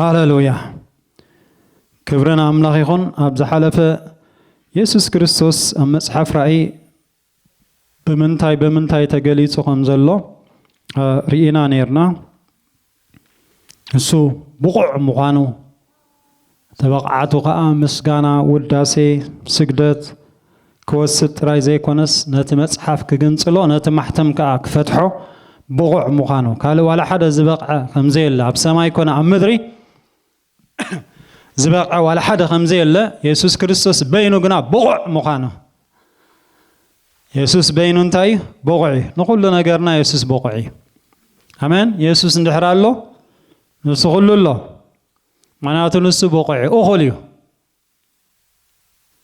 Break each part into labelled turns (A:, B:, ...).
A: ሃለሉያ ክብሪ ንኣምላኽ ይኹን ኣብ ዝሓለፈ የሱስ ክርስቶስ ኣብ መጽሓፍ ራእይ ብምንታይ ብምንታይ ተገሊጹ ከም ዘሎ ርኢና ነርና ንሱ ብቑዕ ምዃኑ፣ እቲ ብቕዓቱ ከኣ ምስጋና፣ ውዳሴ፣ ስግደት ክወስድ ጥራይ ዘይኮነስ ነቲ መጽሓፍ ክግንጽሎ ነቲ ማሕተም ከኣ ክፈትሖ ብቑዕ ምዃኑ፣ ካልእ ዋላ ሓደ ዝበቕዐ ከምዘየለ ኣብ ሰማይ ኮነ ኣብ ምድሪ፣ ዝበቕዐ ዋላ ሓደ ከም ዘየለ፣ የሱስ ክርስቶስ በይኑ ግና ብቑዕ ምዃኑ። የሱስ በይኑ እንታይ እዩ? ብቑዕ እዩ። ንዅሉ ነገርና የሱስ ብቑዕ እዩ። ኣሜን። የሱስ እንድሕር ኣሎ ንሱ ዅሉ ኣሎ። ምኽንያቱ ንሱ ብቑዕ እዩ፣ እኹል እዩ።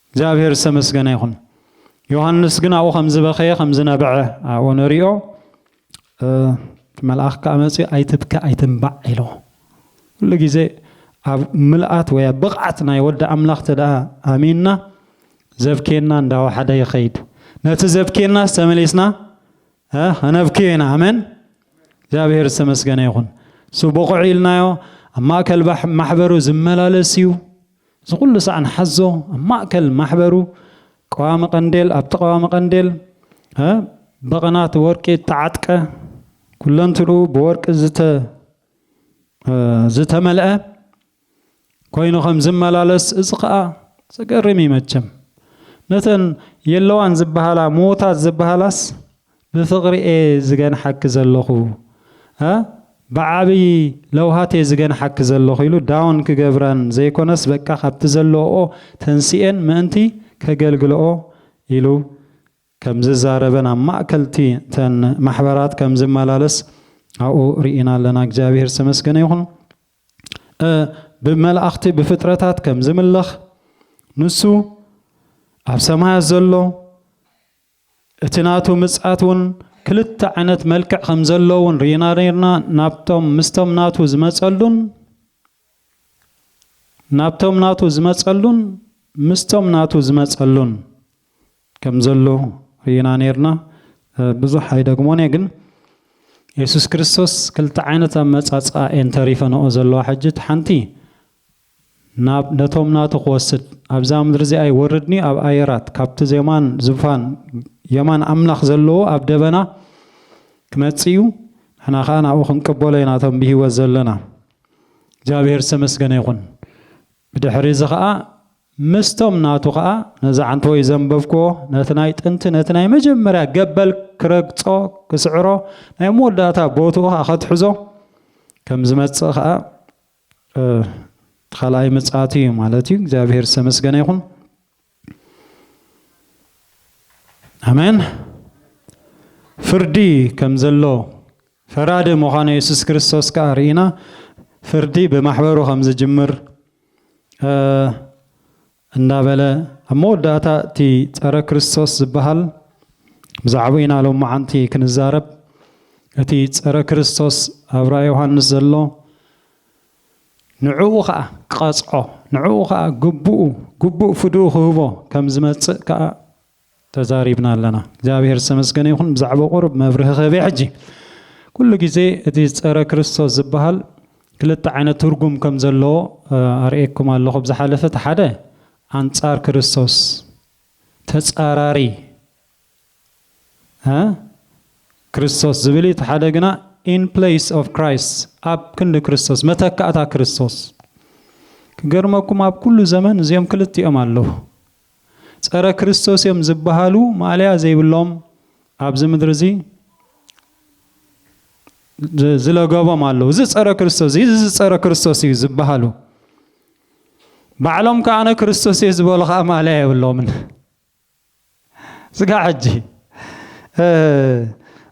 A: እግዚኣብሔር ዝተመስገነ ይኹን። ዮሃንስ ግን ኣብኡ ከም ዝበኸየ ከም ዝነበዐ ኣብኡ ንሪኦ መልኣኽ ከዓ መፅኡ ኣይትብከ ኣይትንባዕ ኢሎ ኩሉ ግዜ ኣብ ምልኣት ወይ ኣብ ብቕዓት ናይ ወዲ ኣምላኽ ተደኣ ኣሚንና ዘብኬና እንዳወሓደ ይኸይድ ነቲ ዘብኬናስ ተመሊስና ኣነብኪን ኣሜን እግዚኣብሔር ዝተመስገነ ይኹን እሱ ብቑዕ ኢልናዮ ኣብ ማእከል ማሕበሩ ዝመላለስ እዩ እዚ ኩሉ ሳዕ ንሓዞ ኣብ ማእከል ማሕበሩ ቀዋሚ ቀንዴል ኣብቲ ቀዋሚ ቀንዴል በቐናት ወርቂ እተዓጥቀ ኩለንትኡ ብወርቂ ዝተመልአ ኮይኑ ከም ዝመላለስ እዚ ከኣ ዘገርም እዩ መቸም ነተን የለዋን ዝበሃላ ምዉታት ዝበሃላስ ብፍቅሪ እየ ዝገንሓኪ ዘለኹ እ ብዓብይ ለውሃት እየ ዝገንሓኪ ዘለኹ ኢሉ ዳውን ክገብረን ዘይኮነስ በቃ ካብቲ ዘለወኦ ተንሲኤን ምእንቲ ከገልግለኦ ኢሉ ከም ዝዛረበን ኣብ ማእከልቲ እተን ማሕበራት ከም ዝመላለስ ኣብኡ ርኢና ኣለና እግዚኣብሔር ዝተመስገነ ይኹን እ ብመላእኽቲ ብፍጥረታት ከም ዝምለኽ ንሱ ኣብ ሰማያት ዘሎ እቲ ናቱ ምጽኣት ውን ክልተ ዓይነት መልክዕ ከም ዘሎ ውን ርኢና ነርና ናብቶም ምስቶም ናቱ ዝመጸሉን ናብቶም ናቱ ዝመጸሉን ምስቶም ናቱ ዝመጸሉን ከም ዘሎ ርኢና ኔርና ብዙሕ ኣይደግሞን እየ ግን የሱስ ክርስቶስ ክልተ ዓይነት ኣመጻጽኣ እየን ተሪፈንኦ ዘለዋ ሕጂ እቲ ሓንቲ ናብ ነቶም ናቱ ክወስድ ኣብዛ ምድሪ እዚኣ ይወርድኒ ኣብ ኣየራት ካብቲ ዜማን ዝፋን የማን ኣምላኽ ዘለዎ ኣብ ደበና ክመጽእ እዩ ንሕና ከዓ ናብኡ ክንቅበሎ ኢና እቶም ብሂወት ዘለና እግዚኣብሄር ዝተመስገነ ይኹን ብድሕሪ እዚ ከዓ ምስቶም ናቱ ከኣ ነዚ ዓንተቦይ ዘንበብኩዎ ነቲ ናይ ጥንቲ ነቲ ናይ መጀመርያ ገበል ክረግጾ ክስዕሮ ናይ መወዳእታ ቦትኡ ከኣ ከትሕዞ ከም ዝመጽእ ከኣ ካልኣይ ምጽኣቱ እዩ ማለት እዩ። እግዚኣብሔር ዝተመስገነ ይኹን። ኣሜን። ፍርዲ ከም ዘሎ ፈራዲ ምዃኑ የሱስ ክርስቶስ ከኣ ርኢና ፍርዲ ብማሕበሩ ከም ዝጅምር እንዳበለ ኣብ መወዳእታ እቲ ጸረ ክርስቶስ ዝበሃል ብዛዕባኡ ኢና ሎማዓንቲ ክንዛረብ እቲ ጸረ ክርስቶስ ኣብ ራእይ ዮሃንስ ዘሎ ንዕኡ ከዓ ክቐጽዖ ንዕኡ ከዓ ግብኡ ግቡእ ፍድኡ ክህቦ ከም ዝመጽእ ከዓ ተዛሪብና ኣለና እግዚኣብሔር ዝተመስገነ ይኹን ብዛዕባ ቁሩብ መብርሂ ክህብ እየ ሕጂ ኩሉ ግዜ እቲ ፀረ ክርስቶስ ዝበሃል ክልተ ዓይነት ትርጉም ከም ዘለዎ ኣርእየኩም ኣለኹ ኣብ ዝሓለፈ እቲ ሓደ ኣንፃር ክርስቶስ ተፃራሪ ክርስቶስ ዝብል እቲ ሓደ ግና ኢን ፕሌስ ኦፍ ክራይስት ኣብ ክንዲ ክርስቶስ መተካእታ ክርስቶስ ክገርመኩም ኣብ ኩሉ ዘመን እዚኦም ክልቲኦም ኣለዉ ጸረ ክርስቶስ እዮም ዝበሃሉ ማእለያ ዘይብሎም ኣብዚ ምድሪ እዚ ዝለገቦም ኣለዉ። እዚ ጸረ ክርስቶስ እዚ እዚ ጸረ ክርስቶስ እዩ ዝበሃሉ ባዕሎም ከኣ ክርስቶስ እየ ዝበሉ ከኣ ማእለያ የብሎምን። ስጋዕ ሕጂ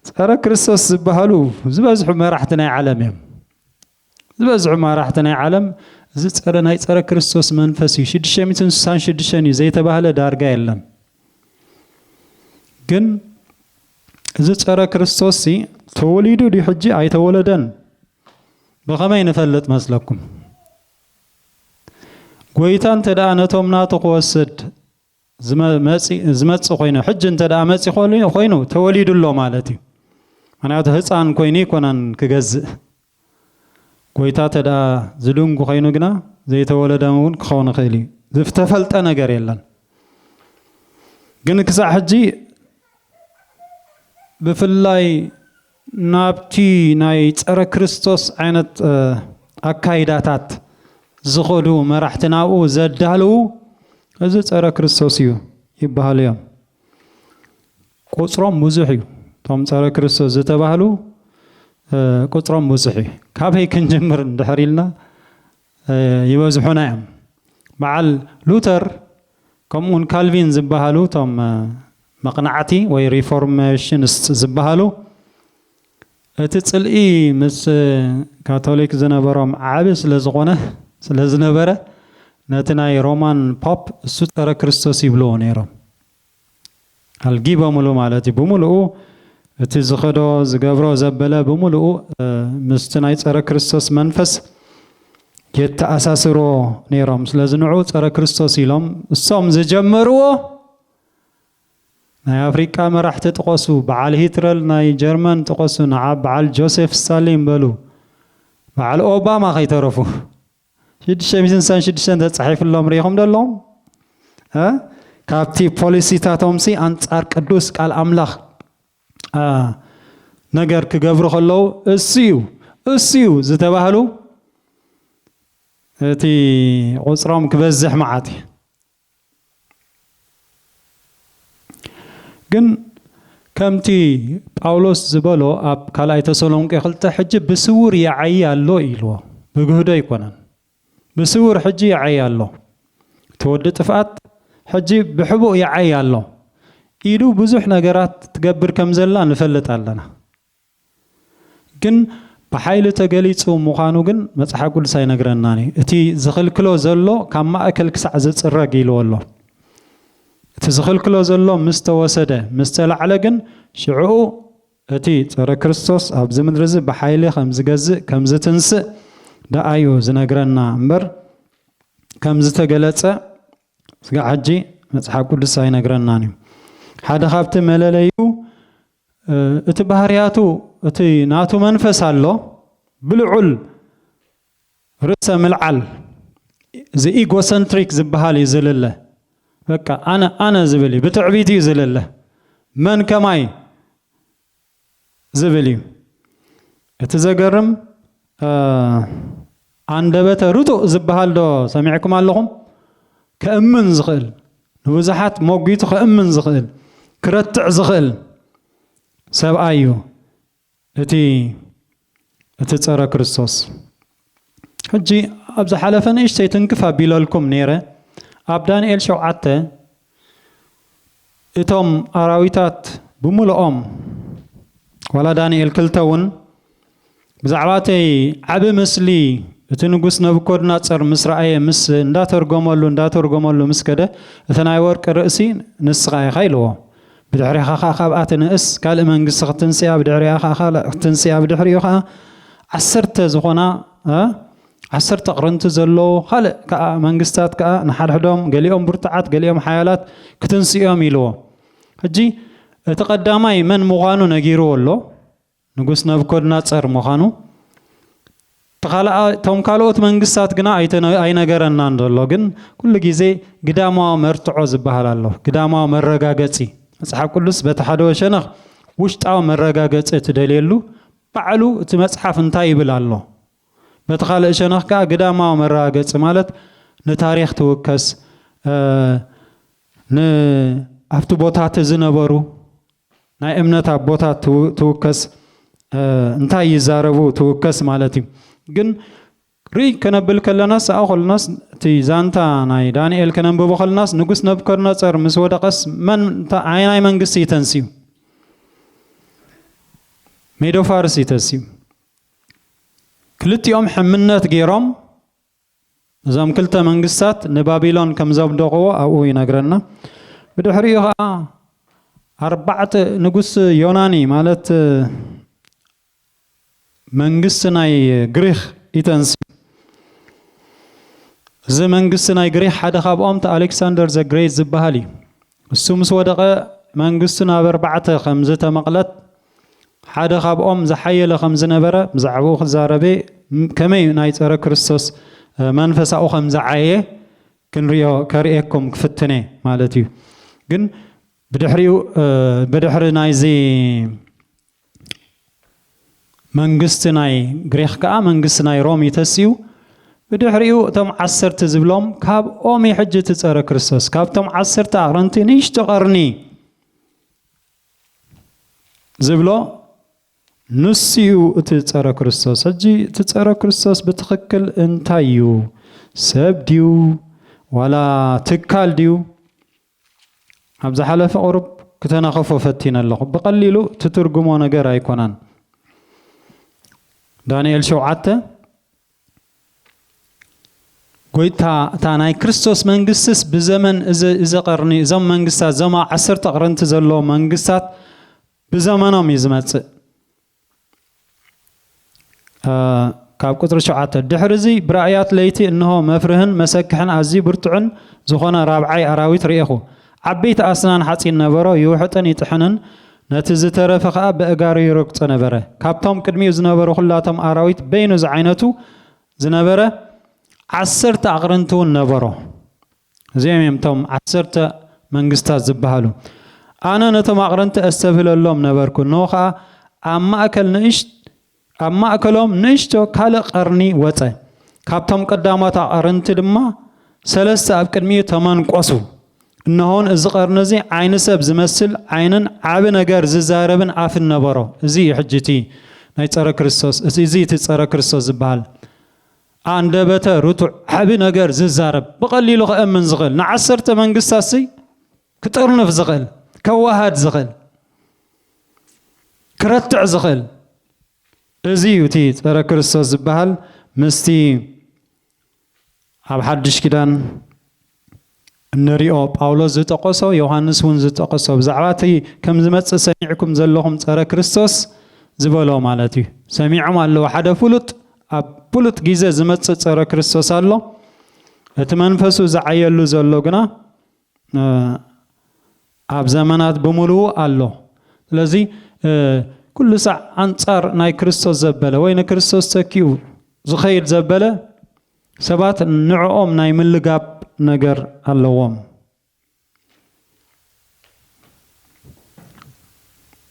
A: ጸረ ክርስቶስ ዝበሃሉ ዝበዝሑ መራሕቲ ናይ ዓለም እዮም። ዝበዝሑ ማራሕቲ ናይ ዓለም እዚ ጸረ ናይ ጸረ ክርስቶስ መንፈስ እዩ ሽዱሽተ ሚእትን ስሳን ሽዱሽተን እዩ ዘይተባህለ ዳርጋ የለን ግን እዚ ጸረ ክርስቶስ ሲ ተወሊዱ ድዩ ሕጂ ኣይተወለደን ብኸመይ ንፈልጥ መስለኩም ጎይታ እንተ ደኣ ነቶም ናቱ ክወስድ ዝመጽእ ኮይኑ ሕጂ እንተ ደኣ መጺ ኮይኑ ተወሊዱ ኣሎ ማለት እዩ ምክንያቱ ህፃን ኮይኑ ይኮናን ክገዝእ ጎይታ እንተ ደኣ ዝድንጉ ኮይኑ ግና ዘይተወለደ እውን ክኸውን ይኽእል እዩ ዝተፈልጠ ነገር የለን ግን ክሳዕ ሕጂ ብፍላይ ናብቲ ናይ ጸረ ክርስቶስ ዓይነት ኣካይዳታት ዝኸዱ መራሕቲ ናብኡ ዘዳልዉ እዚ ጸረ ክርስቶስ እዩ ይበሃሉ እዮም። ቁጽሮም ብዙሕ እዩ እቶም ጸረ ክርስቶስ ዝተባህሉ ቁጽሮም ብዙሕ እዩ። ካበይ ክንጅምር እንድሕር ኢልና ይበዝሑና እዮም። በዓል ሉተር ከምኡውን ካልቪን ዝበሃሉ እቶም መቕናዕቲ ወይ ሪፎርሜሽንስት ዝበሃሉ እቲ ጽልኢ ምስ ካቶሊክ ዝነበሮም ዓቢ ስለ ዝኾነ ስለ ዝነበረ ነቲ ናይ ሮማን ፖፕ እሱ ጸረ ክርስቶስ ይብልዎ ነይሮም። ኣልጊበሙሉ ማለት እዩ ብምሉኡ እቲ ዝኸዶ ዝገብሮ ዘበለ ብምሉኡ ምስቲ ናይ ጸረ ክርስቶስ መንፈስ የተኣሳስርዎ ነይሮም ስለዚ ንዑ ጸረ ክርስቶስ ኢሎም እሶም ዝጀመርዎ ናይ ኣፍሪቃ መራሕቲ ጥቐሱ በዓል ሂትረል ናይ ጀርመን ጥቐሱ ንዓ በዓል ጆሴፍ ስታሊን በሉ በዓል ኦባማ ከይተረፉ ሽዱሽተ ሚእትን ስሳን ሽዱሽተን ተጻሒፍሎም ርኢኹም ዶ ኣለኹም? እ ካብቲ ፖሊሲታቶምሲ ኣንጻር ቅዱስ ቃል ኣምላኽ እ ነገር ክገብሩ ከለዉ እሱዩ እሱዩ ዝተባህሉ እቲ ቁጽሮም ክበዝሕ መዓት እዩ። ግን ከምቲ ጳውሎስ ዝበሎ ኣብ ካልኣይ ተሰሎንቄ ክልተ ሕጂ ብስውር ይዓይ ኣሎ ኢልዎ ብግህዶ ኣይኮነን ብስውር ሕጂ ይዓይ ኣሎ እቲ ወዲ ጥፍኣት ሕጂ ብሕቡእ ይዓይ ኣሎ ኢዱ ብዙሕ ነገራት ትገብር ከም ዘላ ንፈልጥ ኣለና ግን ብሓይሊ ተገሊጹ ምዃኑ ግን መጽሓ ቅዱስ ኣይነግረናን እዩ። እቲ ዝኽልክሎ ዘሎ ካብ ማእከል ክሳዕ ዝጽረግ ኢልዎ ኣሎ። እቲ ዝኽልክሎ ዘሎ ምስ ተወሰደ፣ ምስ ተላዕለ ግን ሽዕኡ እቲ ጸረ ክርስቶስ ኣብዚ ምድሪ እዚ ብሓይሊ ከም ዝገዝእ ከም ዝትንስእ ደኣ እዩ ዝነግረና እምበር ከም ዝተገለጸ ስጋዕ ሕጂ መጽሓፍ ቅዱስ ኣይነግረናን እዩ። ሓደ ካብቲ መለለዩ እቲ ባህርያቱ እቲ ናቱ መንፈስ ኣሎ ብልዑል ርእሰ ምልዓል ዘኢጎሰንትሪክ ዝብሃል እዩ ዝልለ በቃ ኣነ ኣነ ዝብል እዩ ብትዕቢት እዩ ዝልለ መን ከማይ ዝብል እዩ እቲ ዘገርም ሃንደበተ ርቱእ ዝበሃል ዶ ሰሚዕኩም ኣለኹም? ከእምን ዝኽእል፣ ንብዙሓት ሞጒቱ ከእምን ዝኽእል፣ ክረትዕ ዝኽእል ሰብኣይ እዩ እቲ እቲ ጸረ ክርስቶስ። ሕጂ ኣብ ዝሓለፈ ንእሽተይ ትንክፍ ኣቢለልኩም ነይረ። ኣብ ዳንኤል ሸውዓተ እቶም ኣራዊታት ብምሉኦም ዋላ ዳንኤል ክልተ እውን ብዛዕባ እቲ ዓቢ ምስሊ እቲ ንጉስ ነቡኮድናጸር ምስ ረኣየ ምስ እንዳተርጎመሉ እንዳተርጎመሉ ምስ ከደ እቲ ናይ ወርቂ ርእሲ ንስኻ ኢኻ ኢልዎ ብድሕሬኻ ከኣ ካብኣ ትንእስ ካልእ መንግስቲ ክትንስኣ ብድሕሬኣ ከኣ ካልእ ክትንስኣ ብድሕሪኡ ከኣ ዓሰርተ ዝኾና ዓሰርተ ኣቕርንቲ ዘለዎ ካልእ ከኣ መንግስታት ከኣ ንሓድሕዶም ገሊኦም ብርቱዓት ገሊኦም ሓያላት ክትንስኡ እዮም ኢልዎ። ሕጂ እቲ ቀዳማይ መን ምዃኑ ነጊርዎ ኣሎ፣ ንጉስ ነቡኮድናጸር ምዃኑ። እቲ ካልኣ እቶም ካልኦት መንግስታት ግና ኣይነገረናን ዘሎ። ግን ኩሉ ግዜ ግዳማዊ መርትዖ ዝበሃል ኣሎ፣ ግዳማዊ መረጋገጺ። መጽሓፍ ቅዱስ በቲ ሓደ ወሸነኽ ውሽጣዊ መረጋገጺ እትደልየሉ ባዕሉ እቲ መጽሓፍ እንታይ ይብል ኣሎ በቲ ካልእ ሸነኽ ከኣ ግዳማዊ መረጋገጺ ማለት ንታሪኽ ትውከስ ን ኣብቲ ቦታቲ ዝነበሩ ናይ እምነት ኣቦታት ትውከስ እንታይ ይዛረቡ ትውከስ ማለት እዩ ግን ርእይ ከነብል ከለናስ ሰኣ ኮልናስ እቲ ዛንታ ናይ ዳንኤል ከነንብቦ ከልናስ ንጉስ ነብከርነጸር ምስ ወደቐስ መን ኣየናይ መንግስቲ ይተንስዩ ሜዶ ፋርስ ይተስዩ ክልቲኦም ሕምነት ገይሮም እዞም ክልተ መንግስታት ንባቢሎን ከም ዘብደቕዎ ኣብኡ ይነግረና። ብድሕሪኡ ኸዓ ኣርባዕተ ንጉስ ዮናኒ ማለት መንግስቲ ናይ ግሪኽ ይተንስእ። እዚ መንግስቲ ናይ ግሪኽ ሓደ ካብኦም እቲ ኣሌክሳንደር ዘግሬት ዝበሃል እዩ። እሱ ምስ ወደቐ መንግስቱ ናብ ኣርባዕተ ከም ዝተመቕለት ሓደ ካብኦም ዝሓየለ ከም ዝነበረ ብዛዕባኡ ክዛረበ ከመይ ናይ ጸረ ክርስቶስ መንፈሳኡ ከም ዝዓየ ክንሪኦ ከርእየኩም ክፍትነ ማለት እዩ ግን ብድሕሪኡ ብድሕሪ ናይዚ መንግስቲ ናይ ግሪኽ ከኣ መንግስቲ ናይ ሮም እዩ ተሲኡ። ብድሕሪኡ እቶም ዓሰርተ ዝብሎም ካብኦም እዩ ሕጂ እቲ ጸረ ክርስቶስ ካብቶም ዓሰርተ ኣቕርንቲ ንእሽቶ ቐርኒ ዝብሎ ንሱ እዩ እቲ ጸረ ክርስቶስ። ሕጂ እቲ ጸረ ክርስቶስ ብትኽክል እንታይ እዩ? ሰብ ድዩ ዋላ ትካል ድዩ? ኣብ ዝሓለፈ ቁሩብ ክተናኽፎ ፈቲነ ኣለኹ ብቀሊሉ ትትርጉሞ ነገር ኣይኮነን ዳንኤል ሸውዓተ ጎይታ እታ ናይ ክርስቶስ መንግስትስ ብዘመን እዚ ቀርኒ እዞም መንግስታት እዞም ዓሰርተ ቅርንቲ ዘለዎ መንግስታት ብዘመኖም እዩ ዝመፅእ ካብ ቁጽሪ ሸውዓተ ድሕሪ እዚ ብራእያት ለይቲ እንሆ መፍርህን መሰክሕን ኣዝዩ ብርቱዕን ዝኾነ ራብዓይ ኣራዊት ርኤኹ። ዓበይቲ ኣስናን ሓጺን ነበሮ፣ ይውሕጥን ይጥሕንን፣ ነቲ ዝተረፈ ኸኣ በእጋሩ ይረግጾ ነበረ። ካብቶም ቅድሚኡ ዝነበሩ ኹላቶም ኣራዊት በይኑ ዝዓይነቱ ዝነበረ ዓሰርተ ኣቕርንቲውን ነበሮ። እዚኦም እዮም እቶም ዓሰርተ መንግስታት ዝበሃሉ። ኣነ ነቶም ኣቕረንቲ ኣስተብህለሎም ነበርኩ፣ እነሆ ኸኣ ኣብ ማእከል ንእሽት ኣብ ማእከሎም ንእሽቶ ካልእ ቐርኒ ወጸ፣ ካብቶም ቀዳሞት ኣቐርንቲ ድማ ሰለስተ ኣብ ቅድሚኡ ተመንቈሱ። እነሆን እዚ ቐርኒ እዚ ዓይኒ ሰብ ዝመስል ዓይንን ዓቢ ነገር ዝዛረብን ኣፍን ነበሮ። እዚ እዩ ሕጂ እቲ ናይ ጸረ ክርስቶስ እዚ እቲ ጸረ ክርስቶስ ዝበሃል። ኣንደበተ ርቱዕ ዓቢ ነገር ዝዛረብ ብቐሊሉ ክእምን ዝኽእል ንዓሰርተ መንግስታትሲ ክጥርንፍ ዝኽእል ከዋሃድ ዝኽእል ክረትዕ ዝኽእል እዚ እዩ እቲ ጸረ ክርስቶስ ዝበሃል ምስቲ ኣብ ሓድሽ ኪዳን እንሪኦ ጳውሎስ ዝጠቐሶ ዮሃንስ እውን ዝጠቐሶ ብዛዕባ እቲ ከም ዝመጽእ ሰሚዕኩም ዘለኹም ጸረ ክርስቶስ ዝበሎ ማለት እዩ ሰሚዖም ኣለዉ ሓደ ፍሉጥ ኣብ ፍሉጥ ግዜ ዝመጽእ ጸረ ክርስቶስ ኣሎ እቲ መንፈሱ ዝዓየሉ ዘሎ ግና ኣብ ዘመናት ብምልኡ ኣሎ ስለዚ ኩሉ ሳዕ ኣንጻር ናይ ክርስቶስ ዘበለ ወይ ንክርስቶስ ተኪኡ ዝኸይድ ዘበለ ሰባት ንዕኦም ናይ ምልጋብ ነገር ኣለዎም።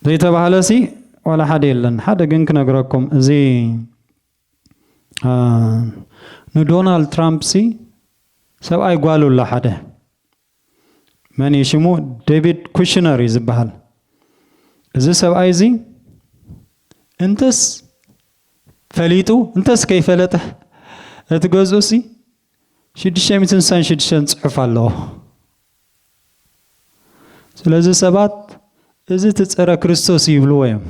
A: ዘይተባህለሲ ዋላ ሓደ የለን። ሓደ ግን ክነግረኩም እዚ ንዶናልድ ትራምፕሲ ሰብኣይ ጓሉ ኣሎ ሓደ መን እዩ ሽሙ ዴቪድ ኩሽነር እዩ ዝበሃል እዚ ሰብኣይ እዚ እንተስ ፈሊጡ እንተስ ከይፈለጠ እቲ ገዝኡ ሲ ሽዱሽተ ሚእትን ስሳን ሽዱሽተን ጽሑፍ ኣለዎ ስለዚ ሰባት እዚ እቲ ጸረ ክርስቶስ ይብልዎ እዮም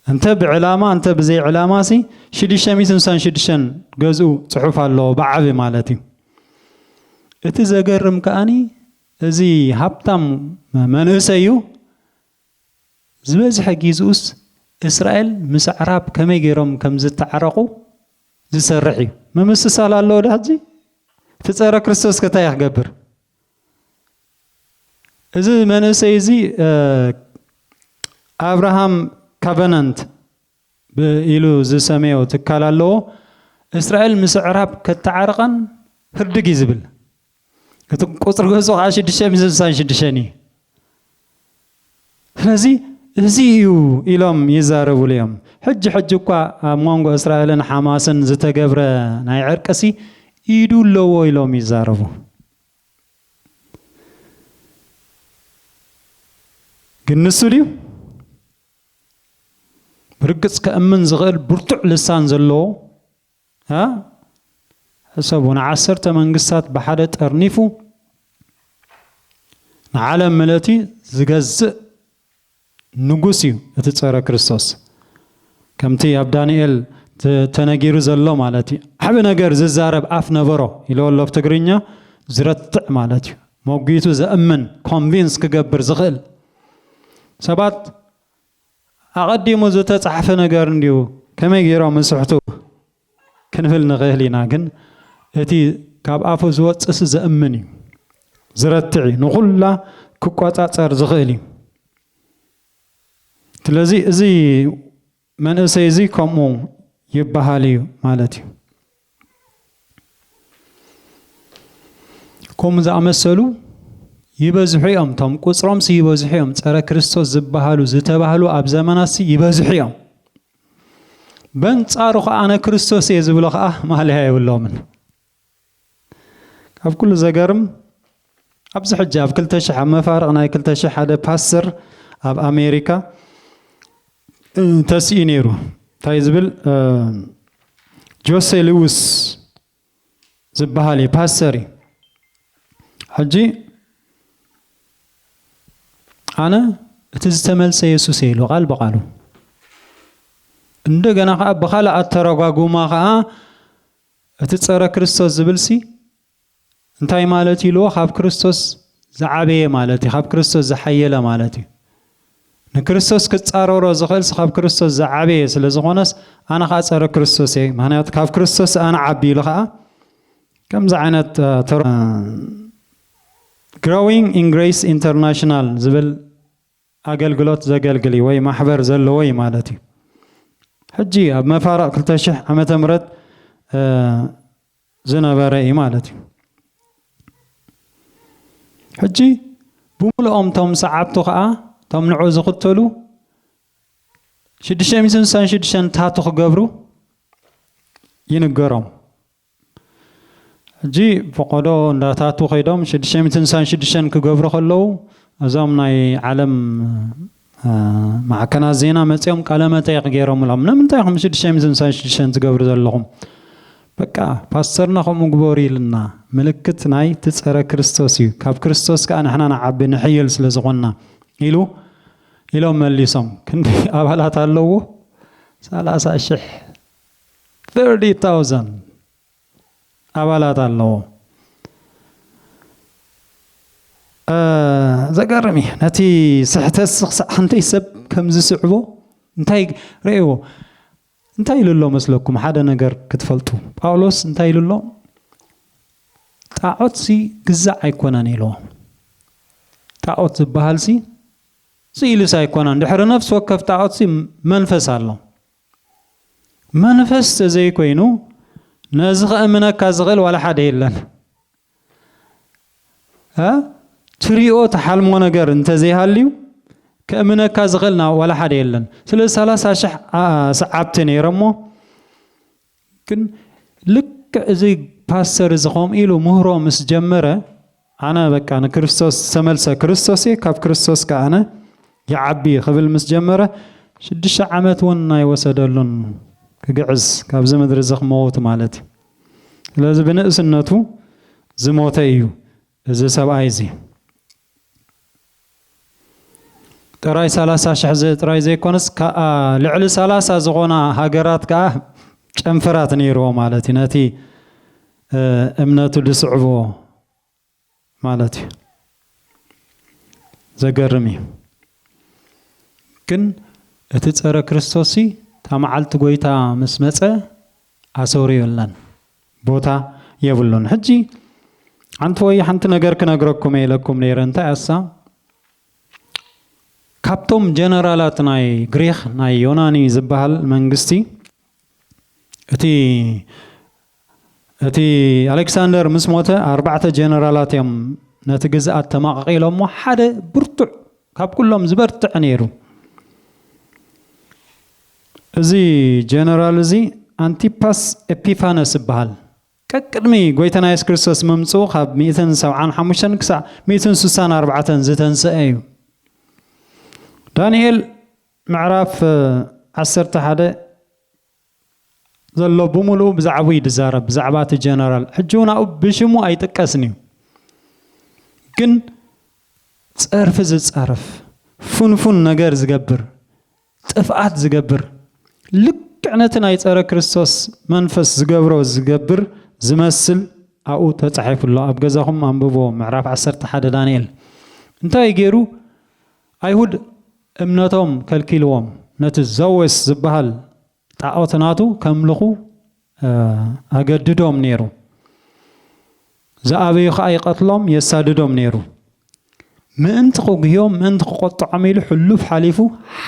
A: እንተ ብዕላማ እንተ ብዘይ ዕላማ ሲ ሽዱሽተ ሚእትን ስሳን ሽዱሽተን ገዝኡ ጽሑፍ ኣለዎ ብዓቢ ማለት እዩ። እቲ ዘገርም ከኣኒ እዚ ሃብታም መንእሰይ እዩ ዝበዝሐ ጊዝኡስ እስራኤል ምስ ኣዕራብ ከመይ ገይሮም ከም ዝተዓረቑ ዝሰርሕ እዩ። ምምስሳል ኣለዎ ዶ ሕጂ? እቲ ጸረ ክርስቶስ ከ እንታይ እዩ ክገብር? እዚ መንእሰይ እዚ ኣብርሃም ካቨናንት ኢሉ ዝሰመዮ ትካል ኣለዎ እስራኤል ምስ ኣዕራብ ከተዓርቐን ህርድግ እዩ ዝብል እቲ ቁፅሪ ገፁ ከዓ ሽዱሽተ ሚእቲ ስሳን ሽዱሽተን እዩ ስለዚ እዚ እዩ ኢሎም ይዛረቡሉ እዮም። ሕጂ ሕጂ እኳ ኣብ ሞንጎ እስራኤልን ሓማስን ዝተገብረ ናይ ዕርቂሲ ኢዱ ኣለዎ ኢሎም ይዛረቡ። ግን ንሱ ድዩ? ብርግጽ ከእምን ዝኽእል ብርቱዕ ልሳን ዘለዎ እህ ሕሰቡ ንዓሰርተ መንግስታት ብሓደ ጠርኒፉ ንዓለም ምለቲ ዝገዝእ ንጉስ እዩ እቲ ጸረ ክርስቶስ ከምቲ ኣብ ዳንኤል ተነጊሩ ዘሎ ማለት እዩ ዓቢ ነገር ዝዛረብ ኣፍ ነበሮ ኢልዎ ኣሎ ብ ትግርኛ ዝረትዕ ማለት እዩ ሞጒቱ ዘእምን ኮንቪንስ ክገብር ዝኽእል ሰባት ኣቐዲሙ ዝተጻሕፈ ነገር እንድዩ ከመይ ጌሮም ይስሕቱ ክንብል ንኽእል ኢና ግን እቲ ካብ ኣፉ ዝወጽእሲ ዘእምን እዩ ዝረትዕ እዩ ንኹላ ክቆጻጸር ዝኽእል እዩ ስለዚ እዚ መንእሰይ እዚ ከምኡ ይበሃል እዩ ማለት እዩ። ከምኡ ዝኣመሰሉ ይበዝሑ እዮም እቶም ቁፅሮምሲ ይበዝሑ እዮም ፀረ ክርስቶስ ዝበሃሉ ዝተባህሉ ኣብ ዘመናሲ ይበዝሑ እዮም በንጻሩ ከዓ ኣነ ክርስቶስ እየ ዝብሎ ከዓ ማለያ የብሎምን ካብ ኩሉ ዘገርም ኣብዚ ሕጂ ኣብ ክልተ ሽሕ ኣብ መፋርቕ ናይ ክልተ ሽሕ ሓደ ፓስተር ኣብ ኣሜሪካ ተሲኡ ነይሩ እንታይ ዝብል ጆሴ ልውስ ዝበሃል እዩ ፓስተር እዩ ሕጂ ኣነ እቲ ዝተመልሰ የሱስ ኢሉ ቃል ብቃሉ እንደገና ከዓ ብካልእ ኣተረጓጉማ ከዓ እቲ ፀረ ክርስቶስ ዝብልሲ እንታይ ማለት እዩ ኢልዎ ካብ ክርስቶስ ዝዓበየ ማለት እዩ ካብ ክርስቶስ ዝሓየለ ማለት እዩ ንክርስቶስ ክጻረሮ ዝኽእልስ ካብ ክርስቶስ ዝዓበየ ስለ ዝኾነስ ኣነ ከዓ ጸረ ክርስቶስ እየ ምክንያቱ ካብ ክርስቶስ ኣነ ዓቢ ኢሉ ከዓ ከምዚ ዓይነት ግሮዊንግ ኢን ግሬስ ኢንተርናሽናል ዝብል ኣገልግሎት ዘገልግል እዩ ወይ ማሕበር ዘለዎ እዩ ማለት እዩ ሕጂ ኣብ መፋርቕ 200 ዓመተ ምህረት ዝነበረ እዩ ማለት እዩ። ሕጂ ብምሉኦም እቶም ሰዓብቱ ከዓ እቶም ንዑ ዝኽተሉ ሽዱሽተ ሚእትን ስሳን ሽዱሽተን ታቱ ክገብሩ ይንገሮም። ሕጂ ፈቆዶ እንዳታቱ ከይዶም ሽዱሽተ ሚእትን ስሳን ሽዱሽተን ክገብሩ ከለዉ እዞም ናይ ዓለም ማዕከናት ዜና መጺኦም ቃለ መጠይቅ ጌሮምሎም ንምንታይ ኢኹም ሽዱሽተ ሚእትን ሳይ ሽዱሽተን ትገብሩ ዘለኹም በቃ ፓስተርና ከምኡ ግበሩ ኢልና ምልክት ናይ ትጸረ ክርስቶስ እዩ ካብ ክርስቶስ ከኣ ንሕና ንዓቢ ንሕይል ስለ ዝኾንና ኢሉ ኢሎም መሊሶም ክንዲ ኣባላት ኣለዎ ሰላሳ ሽሕ 30000 ኣባላት ኣለዎ። ዘገርም እዩ ነቲ ስሕተት ክሳዕ ሓንተይ ሰብ ከም ዝስዕቦ እንታይ ረእዎ እንታይ ኢሉ ኣሎ መስለኩም ሓደ ነገር ክትፈልጡ ጳውሎስ እንታይ ኢሉ ኣሎ ጣዖት ሲ ግዛዕ ኣይኮነን ኢልዎ ጣዖት ዝበሃል ሲ ስኢልስ ኣይኮነን ድሕሪ ነፍሲ ወከፍ ጣዖት ሲ መንፈስ ኣሎ መንፈስ ተዘይኮይኑ ነዚ ከእምነካ ዝኽእል ዋላ ሓደ የለን። ትሪኦ ትሓልሞ ነገር እንተዘይሃልዩ ከእምነካ ዝኽእል ዋላ ሓደ የለን። ስለዚ ሰላሳ ሽሕ ሰዓብቲ ነይሮሞ ግን ልክዕ እዚ ፓስተር እዚ ከምኡ ኢሉ ምህሮ ምስ ጀመረ ኣነ በቃ ንክርስቶስ ዝተመልሰ ክርስቶስ እየ ካብ ክርስቶስ ከ ኣነ ይዓቢ ክብል ምስ ጀመረ ሽዱሽተ ዓመት እውን ኣይወሰደሉን ክግዕዝ ካብዚ ምድሪ እዚ ክመውት ማለት እዩ ስለዚ ብንእስነቱ ዝሞተ እዩ እዚ ሰብኣይ እዚ ጥራይ ሰላሳ ሽሕ ጥራይ ዘይኮነስ ከኣ ልዕሊ ሰላሳ ዝኾና ሃገራት ከኣ ጨንፈራት ነይርዎ ማለት እዩ ነቲ እምነቱ ዝስዕብዎ ማለት እዩ ዘገርም እዩ ግን እቲ ጸረ ክርስቶስ እታ መዓልቲ ጎይታ ምስ መጸ ኣሰውርዮለን ቦታ የብሉን ሕጂ ሓንቲ ወይ ሓንቲ ነገር ክነግረኩም እየ ኢለኩም ነይረ እንታይ እያ እሳ ካብቶም ጀነራላት ናይ ግሪኽ ናይ ዮናኒ ዝበሃል መንግስቲ እቲ እቲ ኣሌክሳንደር ምስ ሞተ ኣርባዕተ ጀነራላት እዮም ነቲ ግዝኣት ተማቐቒሎሞ ሓደ ብርቱዕ ካብ ኩሎም ዝበርትዕ ነይሩ እዚ ጀነራል እዚ ኣንቲፓስ ኤጲፋነስ እበሃል። ቀቅድሚ ጎይታና የሱስ ክርስቶስ ምምጽኡ ካብ ሚእትን ሰብዓን ሓሙሽተን ክሳዕ ሚእትን ስሳን ኣርባዕተን ዝተንሰኤ እዩ። ዳንኤል ምዕራፍ ዓሰርተ ሓደ ዘሎ ብምሉኡ ብዛዕቡ እዩ ዝዛረብ ብዛዕባ እቲ ጀነራል ሕጂ እውን ኣብኡ ብሽሙ ኣይጥቀስን እዩ ግን ጸርፊ ዝጻረፍ ፉንፉን ነገር ዝገብር ጥፍኣት ዝገብር ልክዕ ነቲ ናይ ጸረ ክርስቶስ መንፈስ ዝገብሮ ዝገብር ዝመስል ኣብኡ ተጻሒፉ ኣሎ ኣብ ገዛኹም ኣንብብዎ ምዕራፍ ዓሰርተ ሓደ ዳንኤል እንታይ ገይሩ ኣይሁድ እምነቶም ከልኪልዎም ነቲ ዘወስ ዝበሃል ጣኦት ናቱ ከምልኹ ኣገድዶም ነይሩ። ዝኣበዩ ኸኣ ይቐትሎም የሳድዶም ነይሩ። ምእንቲ ክጉህዮም ምእንቲ ክቆጥዖም ኢሉ ሕሉፍ ሓሊፉ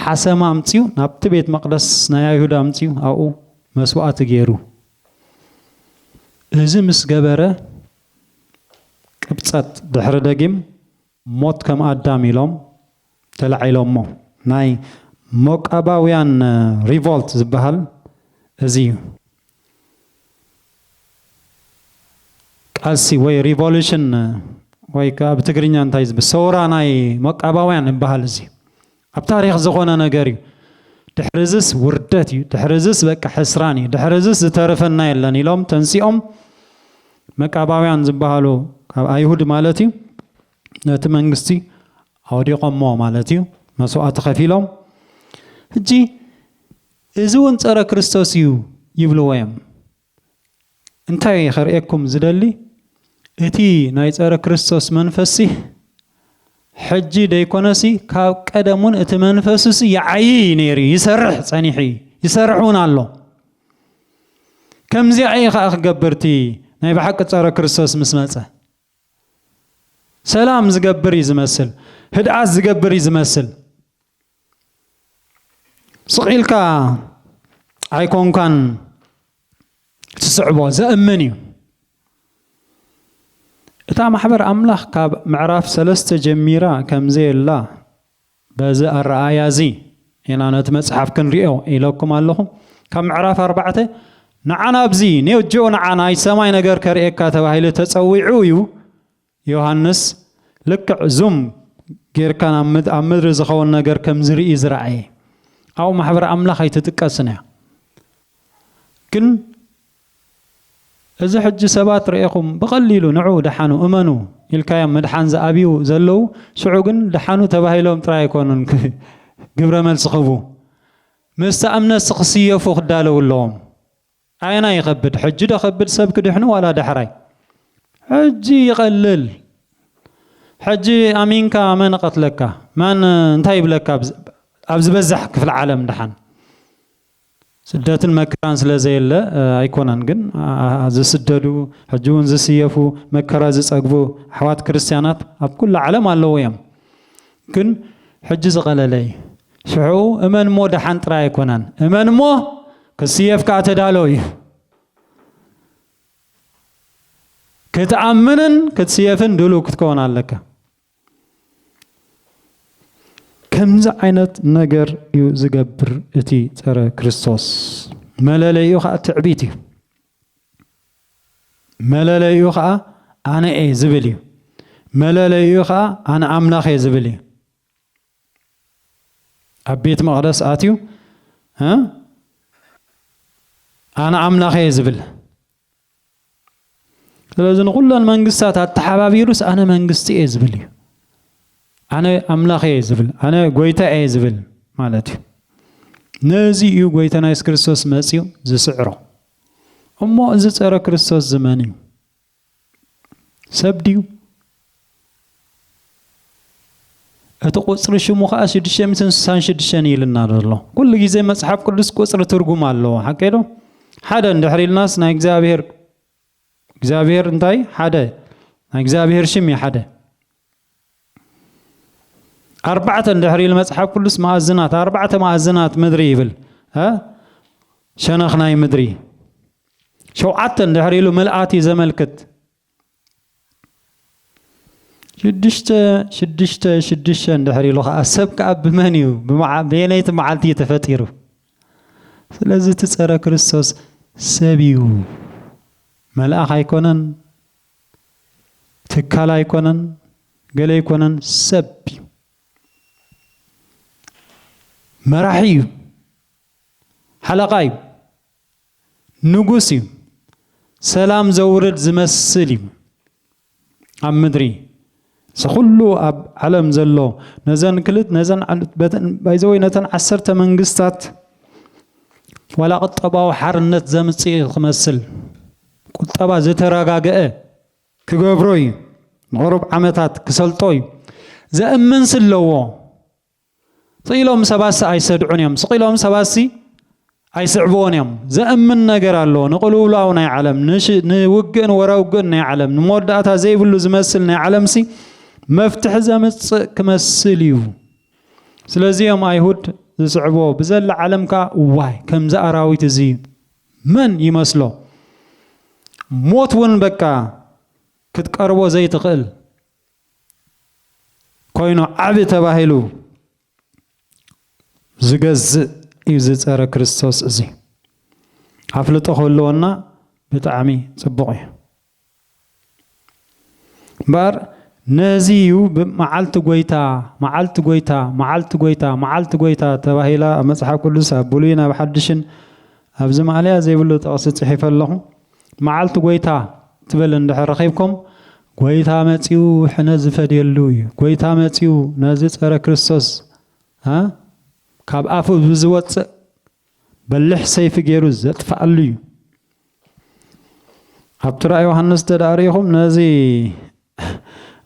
A: ሓሰማ ኣምጺኡ ናብቲ ቤት መቕደስ ናይ ኣይሁድ ኣምጺኡ ኣብኡ መስዋእቲ ገይሩ። እዚ ምስ ገበረ ቅብጸት ድሕሪ ደጊም ሞት ከም ኣዳም ኢሎም ተላዒሎሞ። ናይ ሞቃባውያን ሪቮልት ዝበሃል እዚ እዩ። ቃልሲ ወይ ሪቮሉሽን ወይ ከኣ ብትግርኛ እንታይ ዝብል ሰውራ ናይ ሞቃባውያን ዝበሃል እዚ እዩ። ኣብ ታሪኽ ዝኾነ ነገር እዩ ድሕሪዝስ ውርደት እዩ ድሕሪዝስ በቃ ሕስራን እዩ ድሕሪዝስ ዝተርፈና የለን ኢሎም ተንሲኦም መቃባውያን ዝበሃሉ ካብ ኣይሁድ ማለት እዩ ነቲ መንግስቲ ኣውዲቖሞ ማለት እዩ መስዋእቲ ከፊሎም ሕጂ እዚ እውን ፀረ ክርስቶስ እዩ ይብልዎ እዮም እንታይ እየ ከርእየኩም ዝደሊ እቲ ናይ ጸረ ክርስቶስ መንፈስሲ ሕጂ ደይኮነሲ ካብ ቀደም እውን እቲ መንፈስሲ ይዓይይ እዩ ነይሩ ይሰርሕ ጸኒሑ እዩ ይሰርሕ እውን ኣሎ ከምዚኣ እዩ ከዓ ክገብር እቲ ናይ ብሓቂ ጸረ ክርስቶስ ምስ መጸ ሰላም ዝገብር እዩ ዝመስል ህድኣት ዝገብር እዩ ዝመስል ስቕ ኢልካ ኣይኮንካን ትስዕቦ፣ ዘእምን እዩ። እታ ማሕበር ኣምላኽ ካብ ምዕራፍ ሰለስተ ጀሚራ ከም ዘየላ በዚ ኣረኣእያ እዚ ኢና ነቲ መጽሓፍ ክንሪኦ ኢለኩም ኣለኹ። ካብ ምዕራፍ ኣርባዕተ ንዓና ኣብዚ ኔው ጂኦ ንዓ ናይ ሰማይ ነገር ከርእየካ ተባሂሉ ተጸዊዑ እዩ ዮሃንስ ልክዕ ዙም ጌርካ ኣብ ምድሪ ዝኸውን ነገር ከም ዝርኢ ዝረኣየ ኣብኡ ማሕበር ኣምላኽ ኣይትጥቀስን እያ ግን እዚ ሕጂ ሰባት ርኤኹም ብቐሊሉ ንዑ ደሓኑ እመኑ ኢልካዮም ምድሓን ዝኣብዩ ዘለዉ ሽዑ ግን ደሓኑ ተባሂሎም ጥራይ ኣይኮኑን ግብረ መልሲ ክህቡ ምስታ እምነትሲ ክስየፉ ክዳለዉ ኣለዎም። ኣየናይ ይኸብድ ሕጂ ዶ ከብድ ሰብ ክድሕኑ ዋላ ዳሕራይ ሕጂ ይቀልል ሕጂ ኣሚንካ መን እቀትለካ መን እንታይ ይብለካ ኣብ ዝበዛሕ ክፍሊ ዓለም ድሓን ስደትን መከራን ስለ ዘየለ ኣይኮነን ግን ዝስደዱ ሕጂ እውን ዝስየፉ መከራ ዝጸግቡ ኣሕዋት ክርስትያናት ኣብ ኩሉ ዓለም ኣለዉ እዮም ግን ሕጂ ዝቐለለ እዩ ሽዑ እመን እሞ ደሓን ጥራይ ኣይኮነን እመን እሞ ክስየፍ ከኣ ተዳሎ እዩ። ክትኣምንን ክትስየፍን ድሉው ክትከውን ኣለካ። ከምዚ ዓይነት ነገር እዩ ዝገብር እቲ ጸረ ክርስቶስ መለለይኡ ከዓ ትዕቢት እዩ። መለለይኡ ከዓ ኣነ እየ ዝብል እዩ። መለለይኡ ከዓ ኣነ ኣምላኽ እየ ዝብል እዩ። ኣብ ቤት መቕደስ ኣትዩ ኣነ ኣምላኽ እየ ዝብል ስለዚ ንኹለን መንግስታት ኣተሓባቢሩስ ኣነ መንግስቲ እየ ዝብል እዩ ኣነ ኣምላኽ እየ ዝብል ኣነ ጎይታ እየ ዝብል ማለት እዩ ነዚ እዩ ጎይታና የሱስ ክርስቶስ መፅኡ ዝስዕሮ እሞ እዚ ፀረ ክርስቶስ ዝመን እዩ ሰብ ድዩ? እቲ ቁጽሪ ሽሙ ከኣ ሽዱሽተ ሚእትን ስሳን ሽዱሽተን ኢልና ዘሎ። ኩሉ ግዜ መጽሓፍ ቅዱስ ቁጽሪ ትርጉም ኣለዎ። ሓቀይ ዶ? ሓደ እንድሕር ኢልናስ ናይ እግዚኣብሄር እግዚኣብሄር እንታይ ሓደ ናይ እግዚኣብሄር ሽም እዩ ሓደ። ኣርባዕተ እንድሕር ኢሉ መጽሓፍ ቅዱስ መኣዝናት ኣርባዕተ መኣዝናት ምድሪ ይብል ሸነኽ ናይ ምድሪ ሸውዓተ እንድሕር ኢሉ ምልኣት እዩ ዘመልክት ሽዱሽተ ሽዱሽተ ሽዱሽተ እንድሕር ኢሉ ከዓ ሰብ ከዓ ብመን እዩ ብየነይቲ መዓልቲ እዩ ተፈጢሩ ስለዚ እቲ ፀረ ክርስቶስ ሰብ እዩ መልኣኽ ኣይኮነን ትካል ኣይኮነን ገለ ኣይኮነን ሰብ እዩ መራሒ እዩ ሓለቓ እዩ ንጉስ እዩ ሰላም ዘውርድ ዝመስል እዩ ኣብ ምድሪ ዝኹሉ ኣብ ዓለም ዘሎ ነዘን ክልት ነዘን ባይዘወይ ነተን ዓሰርተ መንግስታት ዋላ ቁጠባዊ ሓርነት ዘምጽእ እዩ ክመስል ቁጠባ ዘተረጋገአ ክገብሮ እዩ ንቕሩብ ዓመታት ክሰልጦ እዩ ዘእምንስ ኣለዎ ስቕ ኢሎም ሰባትሲ ኣይሰድዑን እዮም። ስቕ ኢሎም ሰባትሲ ኣይስዕብዎን እዮም። ዘእምን ነገር ኣሎ። ንቕልውላው ናይ ዓለም፣ ንውግእን ወራውግእን ናይ ዓለም፣ ንመወዳእታ ዘይብሉ ዝመስል ናይ ዓለምሲ መፍትሒ ዘምጽእ ክመስል እዩ። ስለዚ እዮም ኣይሁድ ዝስዕቦ ብዘላ ዓለም ከዓ እዋይ ከምዚ ኣራዊት እዚ መን ይመስሎ ሞት እውን በቃ ክትቀርቦ ዘይትኽእል ኮይኑ ዓቢ ተባሂሉ ዝገዝእ እዩ ዝጸረ ክርስቶስ እዚ ኣፍልጦ ክህልወና ብጣዕሚ ጽቡቕ እዩ እምበኣር ነዚ እዩ መዓልቲ ጎይታ መዓልቲ ጎይታ መዓልቲ ጎይታ መዓልቲ ጎይታ ተባሂላ ኣብ መጽሓፍ ቅዱስ ኣብ ብሉይን ኣብ ሓድሽን ኣብዚ ማእለያ ዘይብሉ ጥቕሲ ጽሒፈ ኣለኹ መዓልቲ ጐይታ ትብል እንድሕር ረኺብኩም፣ ጐይታ መጺኡ ሕነ ዝፈድየሉ እዩ። ጐይታ መጺኡ ነዚ ጸረ ክርስቶስ እ ካብ ኣፉ ብዝወጽእ በሊሕ ሰይፊ ገይሩ ዘጥፍኣሉ እዩ። ኣብቲ ራእይ ዮሃንስ እንተ ደኣ ርኢኹም ነዚ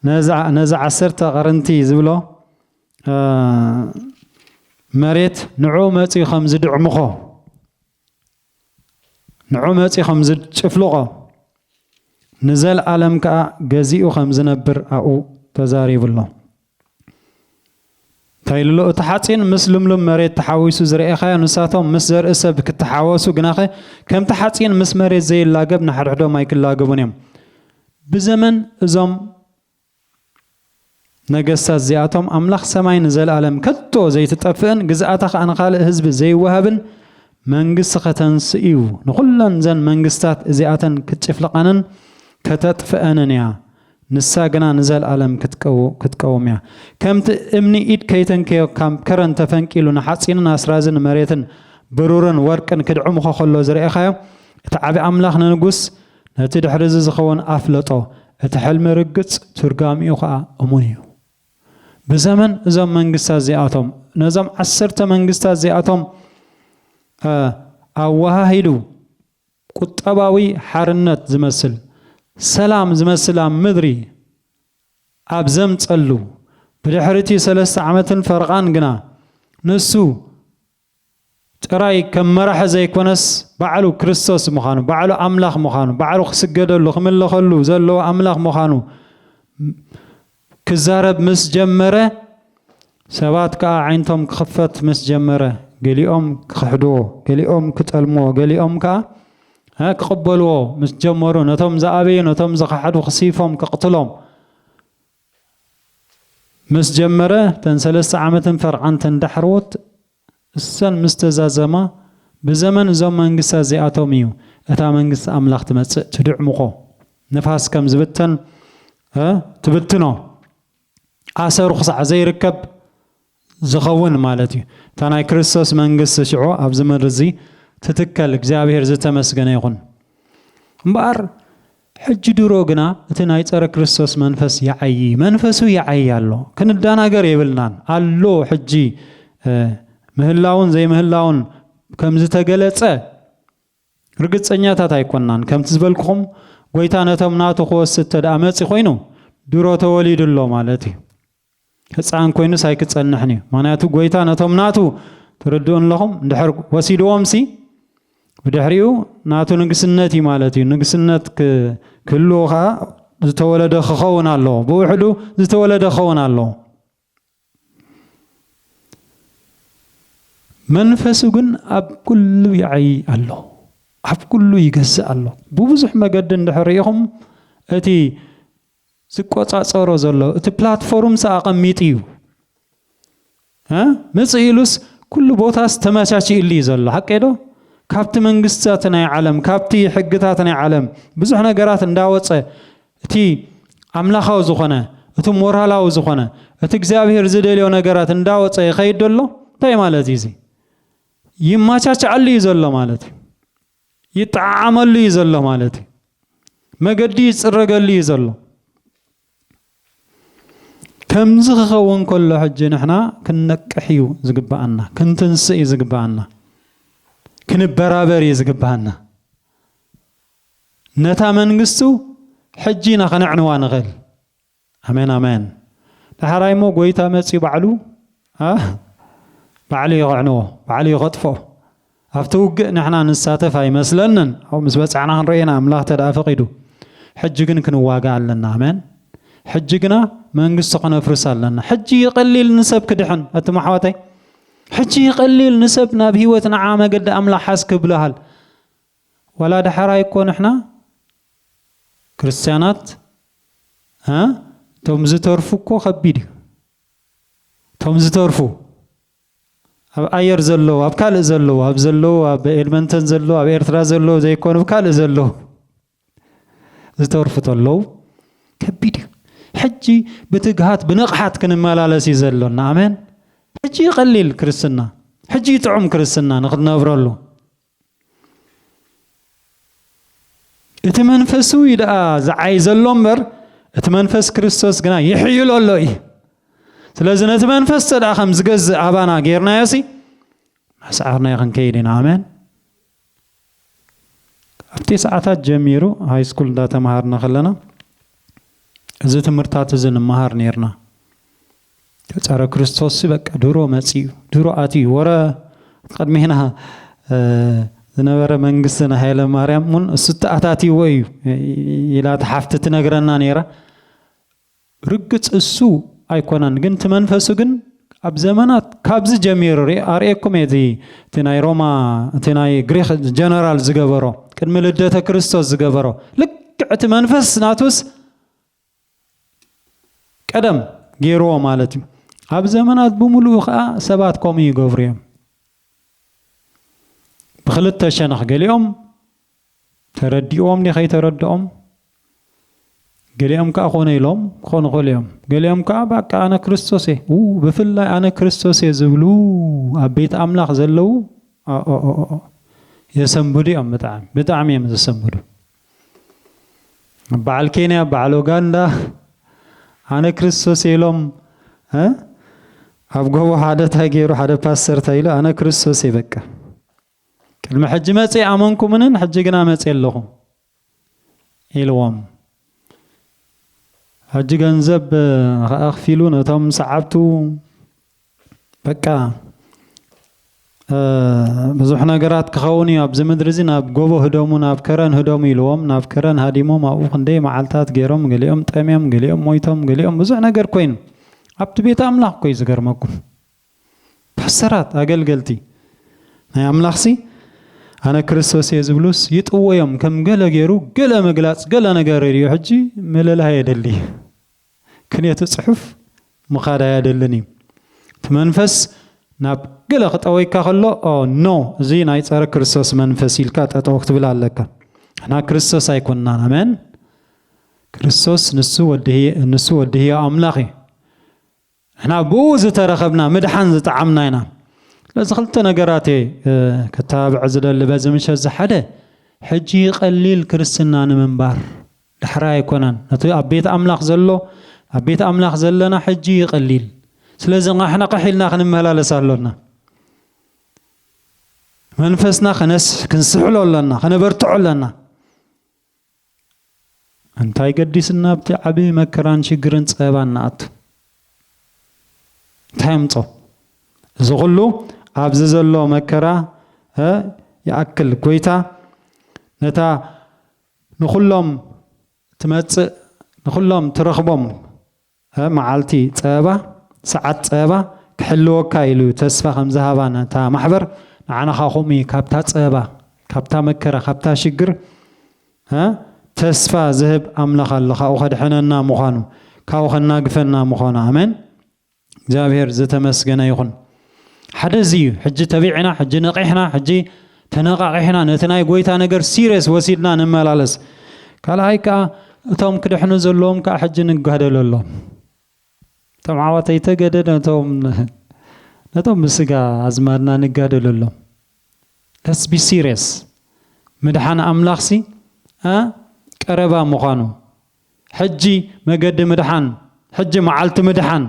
A: ነዛ ነዚ ዓሰርተ ቀርንቲ ዝብሎ እ መሬት ንዕኡ መጺኡ ከም ዝድዕምኾ ንዑመጺ ኸም ዝጭፍልቖ ንዘልኣለም ከኣ ገዚኡ ኸም ዝነብር ኣብኡ ተዛሪቡ ኣሎ። እንታይ ኢሉ ኣሎ? እቲ ሓጺን ምስ ልምሉም መሬት ተሓዊሱ ዝርኤኻዮ፣ ንሳቶም ምስ ዘርኢ ሰብ ክተሓወሱ ግናኸ ከምቲ ሓጺን ምስ መሬት ዘይላገብ ንሓድሕዶም ኣይክላገቡን እዮም። ብዘመን እዞም ነገስታት እዚኣቶም ኣምላኽ ሰማይ ንዘለኣለም ከቶ ዘይትጠፍእን ግዝኣታ ኸኣ ንኻልእ ህዝቢ ዘይወሃብን መንግስቲ ኸተንስእ እዩ። ንዅለን እዘን መንግስትታት እዚኣተን ክትጭፍልቐንን ከተጥፍኣንን እያ፣ ንሳ ግና ንዘለኣለም ክትቀውም እያ። ከምቲ እምኒ ኢድ ከይተንከዮ ካብ ከረን ተፈንቂሉ ንሓጺንን ኣስራዝን መሬትን ብሩርን ወርቅን ክድዕምኾ ኸሎ ዝረኤኻዮ፣ እቲ ዓቢ ኣምላኽ ንንጉስ፣ ነቲ ድሕርዚ ዝኸውን ኣፍለጦ እቲ ሕልሚ ርግጽ ትርጋሚኡ ከኣ እሙን እዩ። ብዘመን እዞም መንግስታት እዚኣቶም ነዞም ዓሰርተ መንግስታት እዚኣቶም እ ኣወሃሂዱ ቁጠባዊ ሓርነት ዝመስል ሰላም ዝመስል ኣብ ምድሪ ኣብ ዘምጸሉ ብድሕሪቲ ሰለስተ ዓመትን ፈረቓን ግና ንሱ ጥራይ ከም መራሒ ዘይኮነስ ባዕሉ ክርስቶስ ምዃኑ፣ ባዕሉ ኣምላኽ ምዃኑ፣ ባዕሉ ክስገደሉ፣ ክምለኸሉ ዘለዎ ኣምላኽ ምዃኑ ክዛረብ ምስ ጀመረ፣ ሰባት ከኣ ኣዒንቶም ክኽፈት ምስ ጀመረ፣ ገሊኦም ክኽሕድዎ፣ ገሊኦም ክጠልምዎ፣ ገሊኦም ከኣ ክቕበልዎ ምስ ጀመሩ፣ ነቶም ዝኣበዩ፣ ነቶም ዝኸሓዱ ክስይፎም፣ ከቕትሎም፣ ምስ ጀመረ ተን ሰለስተ ዓመትን ፈርዓን ተን ዳሕረዎት እሰን ምስ ተዛዘማ ብዘመን እዞም መንግስታት እዚኣቶም እዩ እታ መንግስቲ ኣምላኽ ትመጽእ ትድዕሙቆ ንፋስ ከም ዝብተን ትብትኖ ኣሰሩ ክሳዕ ዘይርከብ ዝኸውን ማለት እዩ። እታ ናይ ክርስቶስ መንግስቲ ሽዑ ኣብዚ ምድሪ እዚ ትትከል እግዚኣብሔር ዝተመስገነ ይኹን። እምበኣር ሕጂ ድሮ ግና እቲ ናይ ጸረ ክርስቶስ መንፈስ ይዓዪ መንፈሱ ይዓዪ ኣሎ ክንዳናገር የብልናን ኣሎ ሕጂ ምህላውን ዘይምህላውን ከም ዝተገለጸ ርግጸኛታት ኣይኮናን ከምቲ ዝበልኩኹም ጎይታ ነቶም ናቱ ክወስድ ተደኣ መጺ ኮይኑ ድሮ ተወሊዱ ኣሎ ማለት እዩ። ህጻን ኮይኑስ ኣይክጸንሕን እዩ ምክንያቱ ጎይታ ነቶም ናቱ ትርድኡ ኣለኹም እንድሕር ወሲድዎምሲ ብድሕሪኡ ናቱ ንግስነት እዩ ማለት እዩ ንግስነት ክህልዎ ከዓ ዝተወለደ ክኸውን ኣለዎ ብውሕዱ ዝተወለደ ክኸውን ኣለዎ መንፈሱ ግን ኣብ ኩሉ ይዓይ ኣሎ ኣብ ኩሉ ይገዝእ ኣሎ ብብዙሕ መገዲ እንድሕር ርኢኹም እቲ ዝቆጻጸሮ ዘሎ እቲ ፕላትፎርምስ ኣቐሚጡ እዩ እ ምጽእ ኢሉስ ኩሉ ቦታስ ተመቻችእሉ እዩ ዘሎ ሓቀይ ዶ ካብቲ መንግስታት ናይ ዓለም ካብቲ ሕግታት ናይ ዓለም ብዙሕ ነገራት እንዳወጸ እቲ ኣምላኻዊ ዝኾነ እቲ ሞራላዊ ዝኾነ እቲ እግዚኣብሔር ዝደልዮ ነገራት እንዳወጸ ይኸይድ ኣሎ እንታይ ማለት እዩ እዚ ይማቻቻዓሉ እዩ ዘሎ ማለት እዩ ይጠዓዓመሉ እዩ ዘሎ ማለት እዩ። መገዲ ይጽረገሉ እዩ ዘሎ። ከምዚ ክኸውን ከሎ ሕጂ ንሕና ክንነቅሕ እዩ ዝግብኣና፣ ክንትንስእ እዩ ዝግብኣና፣ ክንበራበር እዩ ዝግብኣና። ነታ መንግስቱ ሕጂ ኢና ከነዕንዋ ንኽእል። ኣሜን ኣሜን ዳሓራይ እሞ ጎይታ መጽዩ ባዕሉ ኣህ ባዕሉ እዩ ከዕንዎ ባዕሉ እዩ ከጥፍኦ ኣብቲ ውግእ ንሕና ንሳተፍ ኣይመስለንን ኣብኡ ምስ በጻሕና ክንርኢ ኢና ኣምላኽ ተደኣ ፈቂዱ ሕጂ ግን ክንዋጋእ ኣለና ኣሜን ሕጂ ግና መንግስቱ ከነፍርስ ኣለና ሕጂ እዩ ቀሊል ንሰብ ክድሕን እቲ ማሕዋተይ ሕጂ እዩ ቀሊል ንሰብ ናብ ህይወት ንዓ መገዲ ኣምላኽ ሓዝ ክብልሃል ዋላ ዳሕራይ እኮ ንሕና ክርስትያናት እ እቶም ዝተርፉ እኮ ከቢድ እዩ እቶም ዝተርፉ ኣብ ኣየር ዘለዉ ኣብ ካልእ ዘለዉ ኣብ ዘለዉ ኣብ ኤድመንተን ዘለዉ ኣብ ኤርትራ ዘለዉ ዘይኮኑ ብ ካልእ ዘለዉ ዝተርፉ ተለዉ ከቢድ እዩ ሕጂ ብትግሃት ብንቕሓት ክንመላለስ እዩ ዘሎና ኣሜን ሕጂ ይቐሊል ክርስትና ሕጂ ይጥዑም ክርስትና ንክትነብረሉ እቲ መንፈሱ እዩ ደኣ ዝዓይ ዘሎ እምበር እቲ መንፈስ ክርስቶስ ግና ይሕይሎ ኣሎ እዩ ስለዚ ነቲ መንፈስ ተ ደኣ ከም ዝገዝእ ኣባና ጌርናዮ ሲ መስዓርናዮ ክንከይድ ኢና ኣሜን ኣብ ቴስዓታት ጀሚሩ ሃይ ስኩል እንዳተምሃርና ከለና እዚ ትምህርታት እዚ ንምሃር ነርና ጸረ ክርስቶስሲ በቃ ድሮ መጺኡ ድሮ ኣትዩ ወረ ቅድሜና ዝነበረ መንግስቲ ንሃይለ ማርያም እውን እሱ ተኣታትይዎ እዩ ኢላ ተሓፍቲ ትነግረና ነይራ ርግጽ እሱ ኣይኮነን ግን እቲ መንፈሱ ግን ኣብ ዘመናት ካብዚ ጀሚሩ ኣርእየኩም እየ እቲ ናይ ሮማ እቲ ናይ ግሪክ ጀነራል ዝገበሮ ቅድሚ ልደተ ክርስቶስ ዝገበሮ ልክዕ እቲ መንፈስ ናቱስ ቀደም ገይርዎ ማለት እዩ። ኣብ ዘመናት ብምሉኡ ከኣ ሰባት ከምኡ ይገብሩ እዮም። ብክልተ ሸነኽ ገሊኦም ተረዲእዎም ድዩ ከይተረድኦም ገሊኦም ከኣ ኮነ ኢሎም ክኾኑ ይኽእሉ እዮም። ገሊኦም ከኣ በቃ ኣነ ክርስቶስ እየ ው ብፍላይ ኣነ ክርስቶስ እየ ዝብሉ ኣብ ቤት ኣምላኽ ዘለዉ ኦኦኦኦ የሰንብዱ እዮም ብጣዕሚ ብጣዕሚ እዮም ዘሰንብዱ። በዓል ኬንያ በዓል ኡጋንዳ ኣነ ክርስቶስ እየ ኢሎም እ ኣብ ጎቦ ሓደ ታይ ገይሩ ሓደ ፓስተር ታይ ኢሉ ኣነ ክርስቶስ እየ በቃ ቅድሚ ሕጂ መፅ ኣመንኩምንን ሕጂ ግና መፅ ኣለኹ ኢልዎም ሕጂ ገንዘብ ከዓ ኣኽፊሉ ነቶም ሰዓብቱ በቃ ብዙሕ ነገራት ክኸውን እዩ ኣብዚ ምድሪ እዚ ናብ ጎቦ ህደሙ ናብ ከረን ህደሙ ኢልዎም ናብ ከረን ሃዲሞም ኣብኡ ክንደይ መዓልታት ገይሮም ገሊኦም ጠምዮም ገሊኦም ሞይቶም ገሊኦም ብዙሕ ነገር ኮይኑ ኣብቲ ቤት ኣምላኽ ኮይ ዝገርመኩም ፓስተራት ኣገልገልቲ ናይ ኣምላኽሲ ኣነ ክርስቶስ እየ ዝብሉስ ይጥወዮም ከም ገለ ገይሩ ገለ ምግላፅ ገለ ነገር ርዮ ሕጂ ምልላይ የደሊ ክንየቲ ጽሑፍ ምኻድ ኣያደልን እዩ። እቲ መንፈስ ናብ ገለ ክጠወይካ ከሎ ኦ ኖ እዚ ናይ ጸረ ክርስቶስ መንፈስ ኢልካ ጠጠው ክትብል ኣለካ። ንሕና ክርስቶስ ኣይኮናን ኣሜን። ክርስቶስ ንሱ ወዲ ንሱ ወዲ ህያው ኣምላኽ እዩ። ንሕና ብእኡ ዝተረኸብና ምድሓን ዝጠዓምና ኢና። ስለዚ ክልተ ነገራት እየ ክተባብዕ ዝደሊ በዚ ምሸት እዚ ሓደ ሕጂ ቀሊል ክርስትና ንምንባር ዳሕራይ ኣይኮነን ነቲ ኣብ ቤት ኣምላኽ ዘሎ ኣብ ቤት ኣምላኽ ዘለና ሕጂ እዩ ቀሊል ስለዚ ቃሕናቕሕ ኢልና ክንመላለስ ኣሎና መንፈስና ክንስሕሎ ኣለና ከነበርትዖ ኣለና እንታይ ገዲስና ኣብቲ ዓቢ መከራን ሽግርን ጸበባን ንኣቱ? እንታይ ኣምጾ? እዚ ኩሉ ኣብዚ ዘሎ መከራ ይኣክል ጎይታ ነታ ንኩሎም ትመጽእ ንኩሎም ትረኽቦም ሀ መዓልቲ ፀበባ ሰዓት ፀበባ ክሕልወካ ኢሉ ተስፋ ከምዝሃባ ነታ ማሕበር ንዓና ከኣ ከምኡ እዩ ካብታ ፀበባ ካብታ መከራ ካብታ ሽግር ሀ ተስፋ ዝህብ ኣምላኽ ኣሎ ካብኡ ከድሕነና ምዃኑ ካብኡ ከናግፈና ምዃኑ ኣሜን እግዚኣብሔር ዝተመስገነ ይኹን። ሓደ እዚ እዩ ሕጂ ተቢዕና ሕጂ ነቂሕና ሕጂ ተነቃቂሕና ነቲ ናይ ጎይታ ነገር ሲርየስ ወሲድና ንመላለስ ካልኣይ ከኣ እቶም ክድሕኑ ዘለዎም ከኣ ሕጂ ንጋደለሎም እቶም ዓዋተይ ተገደ ነቶም ነቶም ብስጋ ኣዝማድና ንጋደለሎም ለስ ቢ ሲርየስ ምድሓን ኣምላኽሲ ቀረባ ምዃኑ ሕጂ መገዲ ምድሓን ሕጂ መዓልቲ ምድሓን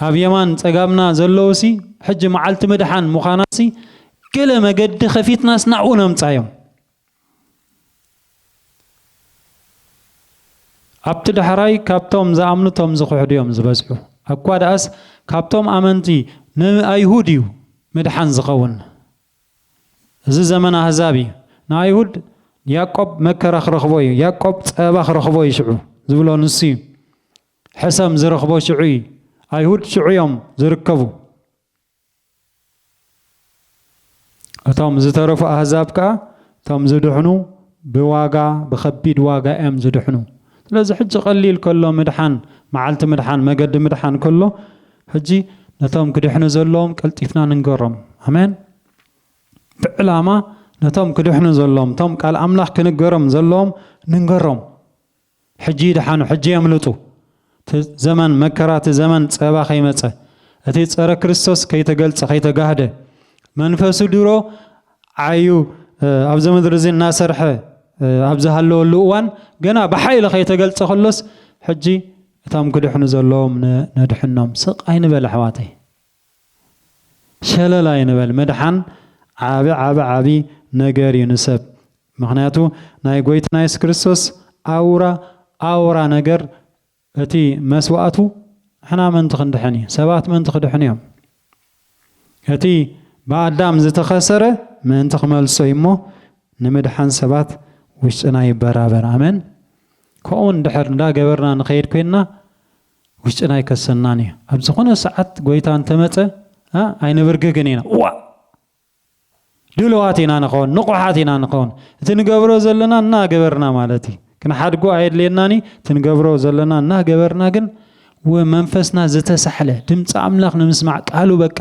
A: ኣብ የማን ጸጋምና ዘለዉሲ ሕጂ መዓልቲ ምድሓን ምዃናሲ ገለ መገዲ ከፊትናስ ናብኡ ነምጻዮም። ኣብቲ ዳሕራይ ካብቶም ዝኣምኑ እቶም ዝኽሕዱ እዮም ዝበዝሑ። ኣኳ ደኣስ ካብቶም ኣመንቲ ንኣይሁድ እዩ ምድሓን ዝኸውን። እዚ ዘመን ኣህዛብ እዩ። ንኣይሁድ ያእቆብ መከራ ክረኽቦ እዩ፣ ያእቆብ ጸበባ ክረኽቦ እዩ ሽዑ ዝብሎ ንሱ እዩ። ሕሰም ዝረኽቦ ሽዑ እዩ። ኣይሁድ ሽዑ እዮም ዝርከቡ። እቶም ዝተረፉ ኣህዛብ ከኣ እቶም ዝድሕኑ ብዋጋ ብኸቢድ ዋጋ እዮም ዝድሕኑ። ስለዚ ሕጂ ቀሊል ከሎ ምድሓን መዓልቲ ምድሓን መገዲ ምድሓን ከሎ ሕጂ ነቶም ክድሕኑ ዘለዎም ቀልጢፍና ንንገሮም። ኣሜን። ብዕላማ ነቶም ክድሕኑ ዘለዎም እቶም ቃል ኣምላኽ ክንገሮም ዘለዎም ንንገሮም። ሕጂ ይድሓኑ ሕጂ የምልጡ እቲ ዘመን መከራ እቲ ዘመን ጸባ ከይመጸ እቲ ጸረ ክርስቶስ ከይተገልጸ ከይተጋህደ መንፈሱ ድሮ ዓዩ ኣብዚ ምድሪ እዚ እናሰርሐ ኣብ ዝሃለወሉ እዋን ገና ብሓይሊ ከይተገልጸ ከሎስ ሕጂ እቶም ክድሕኑ ዘለዎም ነድሕኖም ስቅ ኣይንበል ኣሕዋተይ ሸለል ኣይንበል ምድሓን ዓቢ ዓቢ ዓቢ ነገር እዩ ንሰብ ምክንያቱ ናይ ጎይታና የሱስ ክርስቶስ ኣውራ ኣውራ ነገር እቲ መስዋእቱ ንሕና ምእንቲ ክንድሕን እዩ ሰባት ምእንቲ ክድሕኑ እዮም እቲ ብኣዳም ዝተኸሰረ ምእንቲ ክመልሶ እዩ እሞ ንምድሓን ሰባት ውሽጥና ይበራበር ኣመን ከምኡ እንድሕር እንዳገበርና ንኸይድ ኮይንና ውሽጥና ኣይከሰናን እዩ። ኣብ ዝኾነ ሰዓት ጎይታ እንተመጸ ኣይንብርግግን ኢና። እዋእ! ድሉዋት ኢና ንኸውን፣ ንቑሓት ኢና ንኸውን። እቲ ንገብሮ ዘለና እናገበርና ማለት እዩ። ክንሓድጎ ኣየድልየናን እዩ። እቲ ንገብሮ ዘለና እናገበርና ግን መንፈስና ዝተሳሕለ ድምፂ ኣምላኽ ንምስማዕ ቃሉ በቃ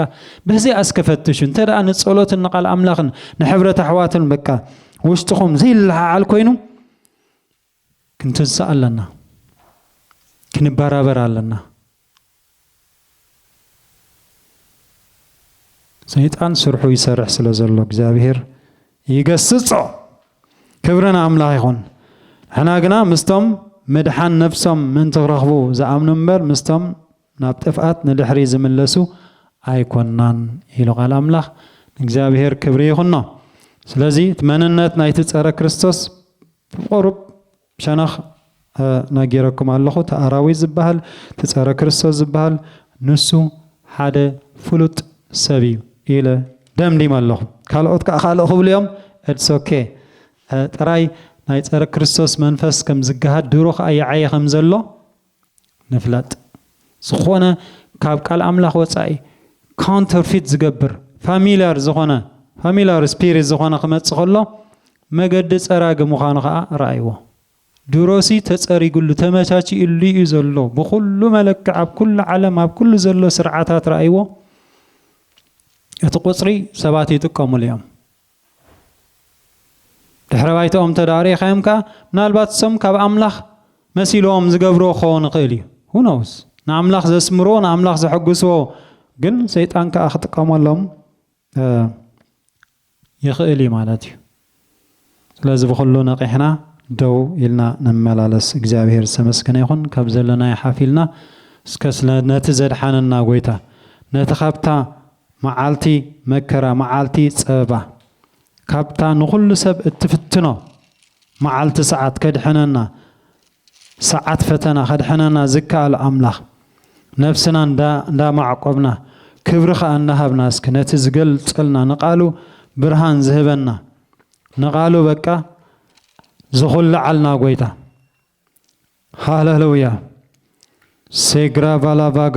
A: በዚኣ እስከ ፈትሹ እንተ ደኣ ንጸሎትን ንቓል ኣምላኽን ንሕብረት ኣሕዋትን በቃ ውሽጥኹም ዘይለዓዓል ኮይኑ ክንትንሳእ ኣለና ክንባራበር ኣለና ሰይጣን ስርሑ ይሰርሕ ስለ ዘሎ እግዚኣብሄር ይገስጾ ክብሪ ንኣምላኽ ይኹን ንሕና ግና ምስቶም ምድሓን ነፍሶም ምእንቲ ክረኽቡ ዝኣምኑ እምበር ምስቶም ናብ ጥፍኣት ንድሕሪ ዝምለሱ ኣይኮናን ኢሉ ቃል ኣምላኽ ንእግዚኣብሄር ክብሪ ይኹኖ ስለዚ እቲ መንነት ናይቲ ጸረ ክርስቶስ ብቁሩብ ሸነኽ ነጊረኩም ኣለኹ እቲ ኣራዊት ዝባሃል እቲ ጸረ ክርስቶስ ዝባሃል ንሱ ሓደ ፍሉጥ ሰብ እዩ ኢለ ደምዲመ ኣለኹ ካልኦት ከኣ ካልእ ክብሉ እዮም ets ok ጥራይ ናይ ጸረ ክርስቶስ መንፈስ ከም ዝጋሃድ ድሮ ከኣ ይዓዪ ከም ዘሎ ንፍለጥ ዝኾነ ካብ ቃል ኣምላኽ ወጻኢ ካውንተር ፊት ዝገብር ፋሚልያር ዝኾነ ፋሚልያር ስፒሪት ዝኾነ ክመጽእ ከሎ መገዲ ጸራጊ ምዃኑ ከኣ ረኣይዎ። ድሮሲ ተጸሪግሉ ተመቻቺኡሉ እዩ ዘሎ ብኹሉ መለክዕ ኣብ ኩሉ ዓለም ኣብ ኩሉ ዘሎ ስርዓታት ረኣይዎ እቲ ቁጽሪ ሰባት ይጥቀምሉ እዮም ድሕረ ባይትኦም እንተ ደኣ ርኢኻዮም ከኣ ምናልባት እሶም ካብ ኣምላኽ መሲልዎም ዝገብርዎ ክኸውን ይኽእል እዩ። Who knows? ንኣምላኽ ዘስምርዎ ንኣምላኽ ዘሐጉስዎ ግን ሰይጣን ከኣ ክጥቀመሎም ይኽእል እዩ ማለት እዩ። ስለዚ ብኹሉ ነቒሕና ደው ኢልና ንመላለስ። እግዚኣብሄር ዝተመስገነ ይኹን ካብ ዘለናዮ ሓፍ ኢልና እስከ ስለ ነቲ ዘድሓነና ጎይታ ነቲ ካብታ መዓልቲ መከራ፣ መዓልቲ ጸበባ፣ ካብታ ንኹሉ ሰብ እትፍትኖ መዓልቲ ሰዓት ከድሕነና፣ ሰዓት ፈተና ከድሕነና ዝከኣል ኣምላኽ፣ ነፍስና እንዳማዕቆብና፣ ክብሪ ከኣ እንዳሃብና እስኪ ነቲ ዝገልጸልና ንቃሉ ብርሃን ዝህበና፣ ንቃሉ በቃ ዝኹልዓልና ጎይታ። ሃለሉያ ሴግራቫላቫግራ።